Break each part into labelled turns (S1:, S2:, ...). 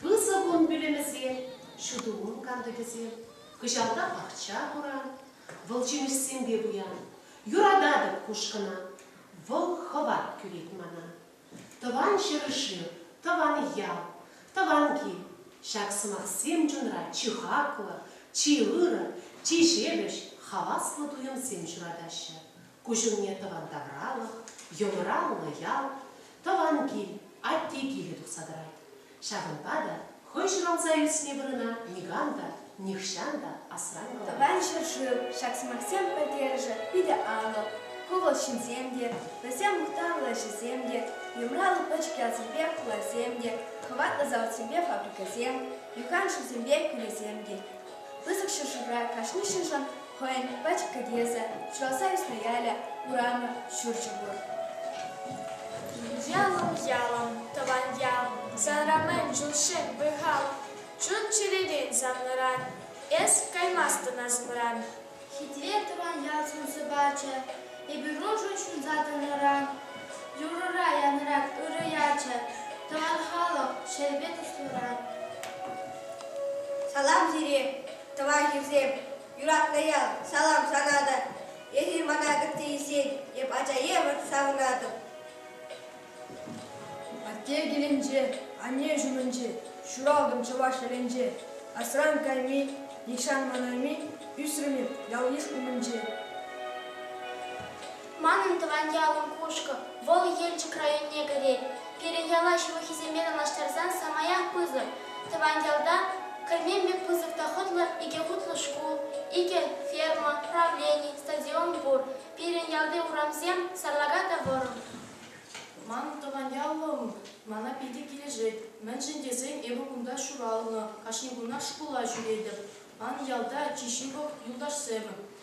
S1: Пысӑк ун пӳлӗмӗсем, ҫутӑ ун кантӑкӗсем, кӑҫалта пахча хура, вӑл ҫимӗҫсемпе пуян. Юрататӑп кушкӑна, вӑл хӑват кӳрет мана. Тӑван ҫӗршыв, тӑван ял, тӑван кил, ҫак сӑмахсем чунра чи хаклӑ, чи ырӑ, чи ҫепӗҫ, хаваслӑ туйӑмсем ҫуратаҫҫӗ. Куҫумне тӑван тавралӑх, йӑлӑраллӑ ял, тӑван кил, атте килӗ тухса тӑрать. Ҫавӑнпа та хӑй ҫуралса ӳснӗ вырӑна никам та, нихҫан та асран тӑмасть. Тӑван ҫӗршыв,
S2: ҫак сӑмахсем пӗлтерӗшӗ питӗ алӑк. Ку вӑл ҫынсем те, вӗсем мухтавлӑ ӗҫӗсем те, юмрал пӗчӗк ялсемпе хуласем те, хӑватлӑ заводсемпе фабрикӑсем, юхан шывсемпе кӳлӗсем те. Пысӑк ҫӗршывра кашни ҫыншӑн Хӑйӗн пӗч кӗтесӗ, Чуаса ӳснӗ ялӗ, урамӗ, ҫурчӗ пур.
S3: Ялӑм, ялӑм, тӑван ялӑм, Санра мӗн чул-шем вӑй-халӑм, Чун чӗререн санран, Эс каймастӑн асмӑран. Хитре
S2: тӑван ял сӑн-сӑпачӗ, Эпир ӑшӑ ҫунса тӑнӑран, Юрӑра янӑрак ырӑ ячӗ, Тӑван халӑх, ҫӗрпе туслӑран.
S4: Салам пире, Тӑванҫусем, юратнӑ ял, салам сунатӑп. Эсир мана кӑтти ӳсет, эп ача евӗр савӑнатӑп.
S5: Атте килӗнче, анне ҫумӗнче, ҫуралтӑм чӑваш ҫӗрӗнче. Асран кайми, нихҫан манайми, ӳсрӗм эп ял-йыш умӗнче.
S3: Манӑн тӑван ялӑм Кушкӑ. Вӑл Елчӗк районне кӗрет. Пирӗн яла ҫывӑххисемпе танлаштарсан самаях пысӑк. Тӑван ялта кӗрмен пек пысӑк та хӑтлӑ икӗ хутлӑ шкул, икӗ ферма, правлени, стадион пур. Пирӗн ялти урамсем сарлака та вӑрӑм. Ман
S6: тӑван ялӑм мана питӗ килӗшет, мӗншӗн тесен эпӗ кунта ҫуралнӑ, кашни кунах шкула ҫӳретӗп. Ман ялта чи ҫывӑх юлташсем,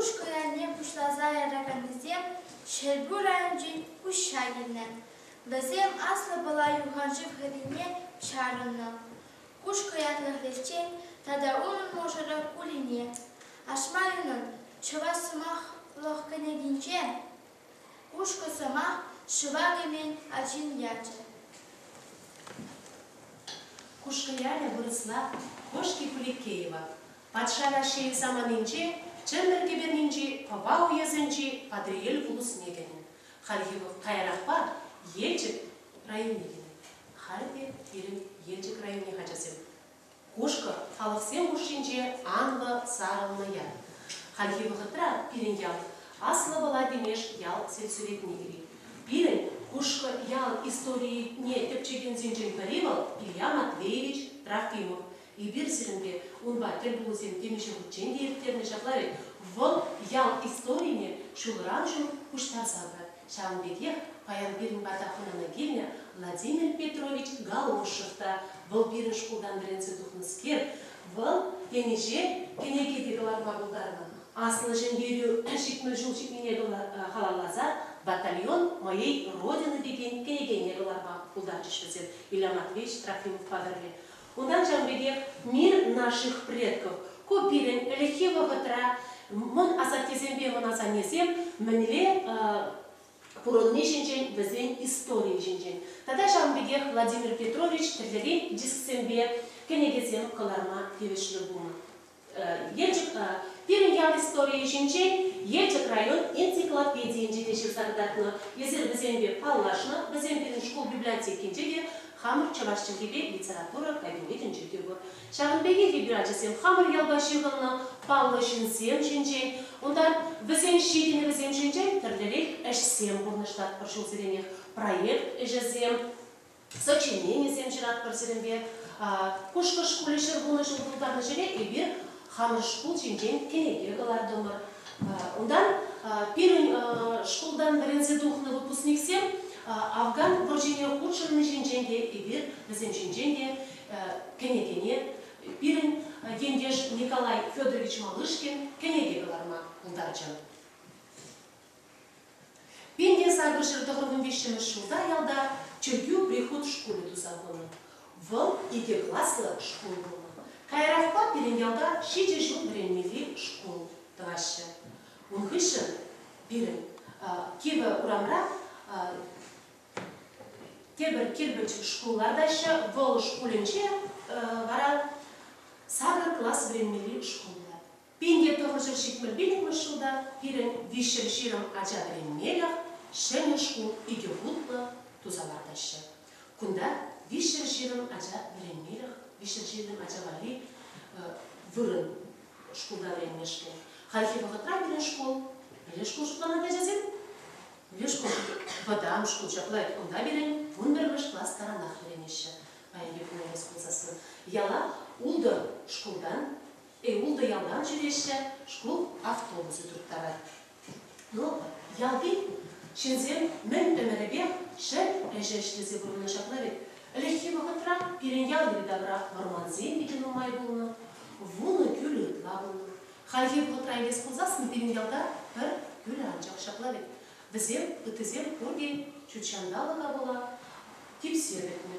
S3: Куҫ кӑларне пуҫласа яраканнисем Ҫӗрпӳ районӗнчен куҫҫа килнӗ. Вӗсем Аслӑ Пӑла юханшыв хӗррине чарӑннӑ. Куҫ кӑятлӑхлӗхчен тата унӑн мӑшӑрӗ Улине, Ашмайӑнӑн Чӑваш сӑмахлӑх кӗнекинче Кушкӑ сӑмах ҫӑва кӗмен ачин ячӗ.
S1: Кушкӑ ялӗ вырӑсла Кошки Куликеева, Патша Раҫҫейӗн саманинче Чӗмпӗр кӗпернинчи Пӑва уесӗнчи Патӑрьел вулӑсне кӗнӗ. Хальхи вӑл каярахпа Елчӗк районне кӗнӗ. Халь те пирӗн Елчӗк районӗн ачасем Кушкӑ халӑхсем хушшинче анлӑ сарӑлнӑ ял. Хальхи вӑхӑтра пирӗн ял Аслӑ Пӑла Тимеш ял сельсоветне кӗрет. Пирӗн Кушкӑ ялӗн историйӗне тӗпчекенсенчен пӗри вӑл Илья Матвеевич Трофимов. Эпир сирӗнпе унпа тӗл пулусем темиҫе хутчен те ирттернӗ, ҫапла вӗт. Вӑл ял историне ҫулран-ҫул пуҫтарса пырать. Ҫавӑн пекех паян пирӗн пата хӑнана килнӗ Владимир Петрович Галошев та, вӑл пирӗн шкултан вӗренсе тухнӑскер, вӑл темиҫе кӗнеке те кӑларма пултарнӑ. Аслӑ Ҫӗнтерӳ ҫитмӗл ҫул ҫитнине халалласа Батальон моей Родины текен кӗнекене кӑларма пултарчӗҫ вӗсем, Илья Матвеевич Трофимов хатӗрле. Унтан ҫавӑн пекех Мир наших предков, ку пирӗн ӗлӗкхи вӑхӑтра мӑн асаттесемпе мӑн асаннесем мӗнле пурӑнни ҫинчен, вӗсен историйӗ ҫинчен тата ҫавӑн пекех Владимир Петрович тӗрлӗрен дисксемпе кӗнекесем кӑларма тивӗҫлӗ пулнӑ. Елчӗк пирӗн ял историйӗ ҫинчен Елчӗк район энциклопедийӗнче те ҫырса кӑтартнӑ. Эсир вӗсемпе паллашнӑ, вӗсем пирӗн шкул библиотекинче те хамӑр чӑваш чӗлхипе литература кабинетӗнче те пур. Ҫавӑн пекех эпир ачасем хамӑр ялпа ҫыхӑннӑ паллӑ ҫынсем ҫинчен, унтан вӗсен ҫитӗнӗвӗсем ҫинчен тӗрлӗрех ӗҫсем пурнӑҫлатпӑр ҫулсеренех, проект ӗҫӗсем сочиненисем ҫыратпӑр сирӗнпе. Кушкӑш хули ҫӗр пурнӑҫӗн тултарӑшӗне эпир хамӑр шкул ҫинчен кӗнеке кӑлартӑмӑр. Унтан пирӗн шкултан вӗренсе тухнӑ выпускниксем Афган вӑрҫине хутшӑнни ҫинчен те, эпир вӗсем ҫинчен те кӗнекене пирӗн ентеш Николай Федорович Малышкин кӗнеке кӑларма пултарчӗ. Пин те сакӑршер тӑхӑрмӗн виҫҫӗмӗш ҫулта ялта чиркӳ прихут шкулӗ туса хунӑ. Вӑл икӗ класлӑ шкул пулнӑ. Каярахпа пирӗн ялта ҫичӗ ҫул вӗренмелли шкул тӑваҫҫӗ. Ун хыҫҫӑн пирӗн Кивӗ урамра тепӗр кирпӗч шкул лартаҫҫӗ. Вӑл шкулӗнче вара сакӑр класс вӗренмелли шкул пулать. Пин те тӑхӑршӗн ҫитмӗл-пиллӗкмӗш ҫулта пирӗн виҫҫӗн ҫирӗм ача вӗренмелӗх ҫӗнӗ шкул икӗ хутлӑ туса лартаҫҫӗ. Кунта виҫҫӗн ҫирӗм ача вӗренмелӗх виҫҫӗн ҫирӗм ача валли вырӑн шкулта вӗренмешкӗн. Хальхи вӑхӑтра пирӗн шкул мӗнле шкул шутланать ачасем? Мӗнле шкул? Вӑтам шкул ҫапла унта пирӗн вун пӗрремӗш класс таранах вӗренеҫҫӗ. Паянхи куна эс пулсассӑн яла ултӑ шкултан Е ултӑ ялтан ҫӳреҫҫӗ, шкул автобусӗ турттарать. Ну, ялти ҫынсем мӗн ӗмӗрӗпех ҫӗр ӗҫӗ ӗҫлесе пурӑннӑ ҫакна вӗт. Ӗлӗкхи вӑхӑтра пирӗн ял йӗри-тавра вӑрмансем питӗ нумай пулнӑ, вунӑ кӳлӗ ытла пулнӑ. Хальхи вӑхӑтра илес пулсассӑн пирӗн ялта пӗр кӳлӗ анчах ҫапла вӗт. Вӗсем, ыттисем пурте ҫут ҫанталӑка пула типсе пӗтнӗ.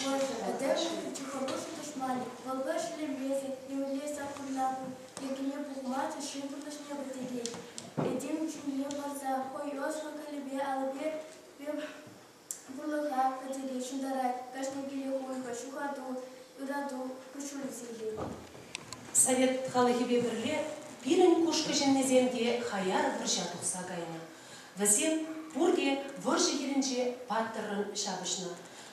S3: Пӗтӗмӗшле тихомир тӑшман, вӑл-ка ҫӗлемесӗр, темле саккуна йӗркене пухмасӑр ҫын пурнӑҫне вӗретекен, этем чунне парса хӑй ӑслӑ кӗлӗпе алӑпе пурлӑха пӗчӗке ҫунтарать, кашни киле хуйхӑ, ҫухату, ырату куҫҫулӗ сирпет. Совет
S1: халӑхӗпе пӗрле пирӗн кушкӑ ҫыннисем те хаяр вӑрҫа тухса кайнӑ. Вӗсем пурте вӑрҫӑ хирӗнче паттӑррӑн ҫапӑҫнӑ.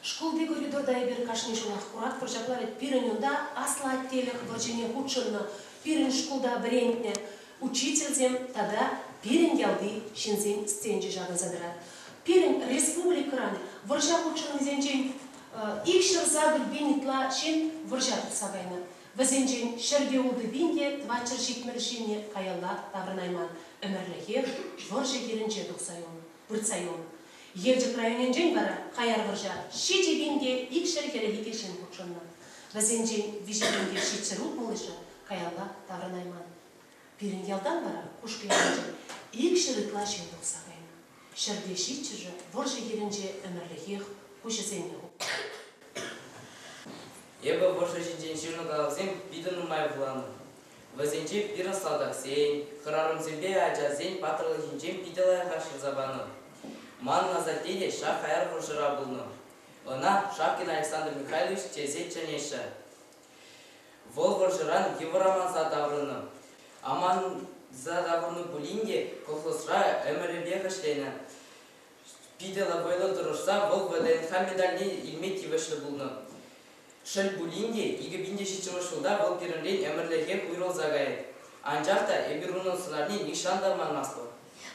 S1: Шкулти коридорта эпир кашни ҫулах куратпӑр, ҫапла вӗт пирӗн унта аслӑ аттелӗх вӑрҫине хутшӑннӑ, пирӗн шкулта вӗрентнӗ учительсем тата пирӗн ялти ҫынсен стенчӗ ҫакӑнса тӑрать. Пирӗн республикӑран вӑрҫа хутшӑннисенчен икҫӗр сакӑр пин ытла ҫын вӑрҫа тухса кайнӑ. Вӗсенчен ҫӗр те ултӑ пин те тӑватҫӗр ҫитмӗл ҫынни каялла таврӑнайман, ӗмӗрлӗхе вӑрҫӑ хирӗнче тухса юлнӑ, выртса юлнӑ. Елчӗк районӗнчен вара хаяр вӑрҫа ҫичӗ пин те икҫӗр хӗрӗх икӗ ҫын хутшӑннӑ. Вӗсенчен виҫӗ пин те ҫичҫӗр утмӑлӑшӗ каялла таврӑнайман. Пирӗн ялтан вара Кушкӑ ялӗнчен икҫӗр ытла ҫын тухса кайнӑ. ҫӗрте ҫиччӗшӗ вӑрҫӑ хирӗнче ӗмӗрлӗхех куҫӗсене хупнӑ.
S7: Эпӗ вӑрҫӑ ҫинчен ҫырнӑ калавсем питӗ нумай вуланӑ. Вӗсенче пирӗн салтаксен, хӗрарӑмсемпе ачасен паттӑрлӑхӗнчен питӗ лайӑхах ҫырса панӑ. Манӑн асатте те ҫак хаяр вӑрҫӑра пулнӑ. Ӑна Шапкин Александр Михайлович тесе чӗнеҫҫӗ. Вӑл вӑрҫӑран йывӑр аманса таврӑннӑ. Аманса таврӑннӑ пулин те колхозра ӗмӗрӗпех ӗҫленӗ. Питӗ лӑпӑйлӑ тӑрӑшса вӑл ВДНХ медальне илме тивӗҫлӗ пулнӑ. Шел пулин те, икӗ пин те ҫиччӗмӗш ҫулта вӑл пирӗнрен ӗмӗрлӗхех уйрӑлса каять. Анчах та эпир унӑн сӑнарне нихҫан та манмастпӑр.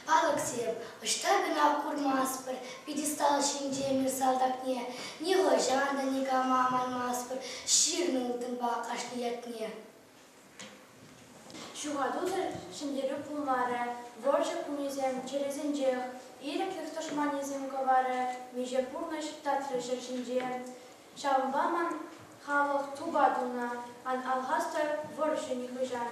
S7: Палӑксем,
S3: ӑҫта кӑна курмастпӑр пьедестал ҫинче мир салтакне, нихӑҫан та никама манмастпӑр ҫырнӑ ылтӑнпа кашни ятне.
S2: Ҫухатусӑр ҫӗнтерӳ пулмарӗ, вӑрҫӑ кунӗсем чӗресенчех, ирӗклӗх тӑшманӗсем кӑварӗ, миҫе пурнӑҫ татрӗ ҫӗр ҫинче. Ҫавӑнпа ман халӑх тупа тунӑ, ан алхастӑр вӑрҫӑ нихӑҫан.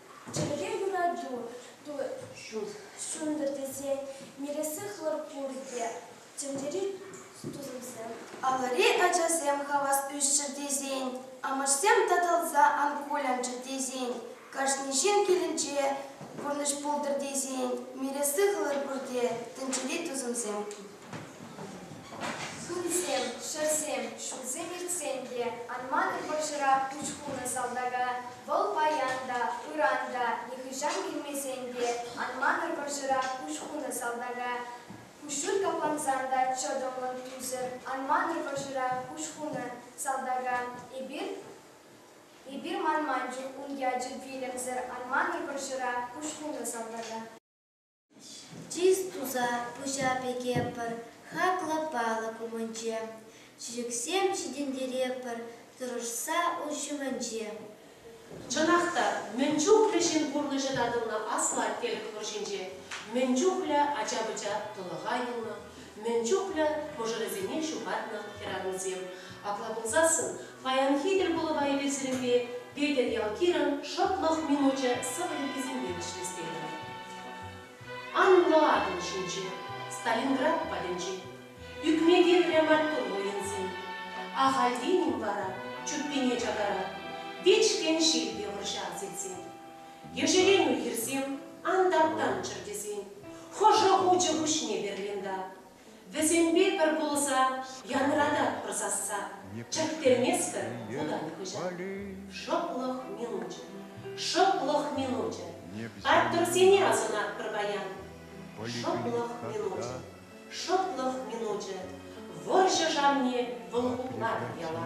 S2: Чӗлхе юрату ҫунтӑр тесен мелессе хӑлӑппин пирки тӗнчери тусӑмсем, алӑри
S8: ачасем хавас ӳсчӗр тесен, амӑшсем татӑлса алкоголянччӑр тесен, кашни ҫын килӗнче пурнӑҫ пултӑр тесен мелессе хӑлӑп пирки тӗнчери тусӑмсем
S2: Сумсем, ҫӗрсем ҫулсем иртсен те анман-и вӑрҫӑра пуҫ хунӑ салтака, вӑл паян та, ыран та, нихӑҫан килмесен те анманӑр вӑрҫӑра пуҫ хунӑ салтака. Куҫҫуль каплансан та чӑтӑмлӑн ӳсӗр, анманӑр вӑрҫӑра пуҫ хунӑ салтака. Эпир эпир манманччӗ ун ячӗ вилӗмсӗр, анманӑр вӑрҫӑра пуҫ хунӑ салтака.
S3: Чыс туса пуҫа пӗкепӗр хаклӑ палӑк умӗнче, чечексем ҫитӗнтерепӗр тӑрӑшса ун ҫумӗнче.
S1: Чӑнах та, мӗн чухлӗ ҫын пурнӑҫӗ татӑлнӑ Аслӑ Аттел вӑрҫинче, мӗн чухлӗ ача-пӑча тӑлӑха юлнӑ, мӗн чухлӗ мӑшӑрӗсене ҫухатнӑ хӗрарӑмсем. Апла пулсассӑн Паянхи тӗлпулӑва илӗртӳлемпе Петӗр Ялкирӑн шӑплӑх минучӗ сӑвӑ юррисемпе вӗҫлес тетӗр. Анлӑ атӑл ҫинче, Сталинград патӗнче, ӳкме-килре маттур воинсем. Ахальтен-им вара чуппине чакарар Вичкӗн ҫил те вӑрҫа сирсен? Ешеленӳ хирсем ан таптанччӑр тесен, Хӑшӗ хучӗ пуҫне Берлинта? Вӗсемпе пӗр пулса янрататпӑр сасса, Чӗрттерместпӗр хутан хыҫа. Шӑплӑх минучӗ, шӑплӑх минучӗ, Паттӑрсене асӑнатпӑр паян. Шӑплӑх минучӗ, шӑплӑх минучӗ, Вӑрҫӑ шавне вӑл хутлатӑп яла.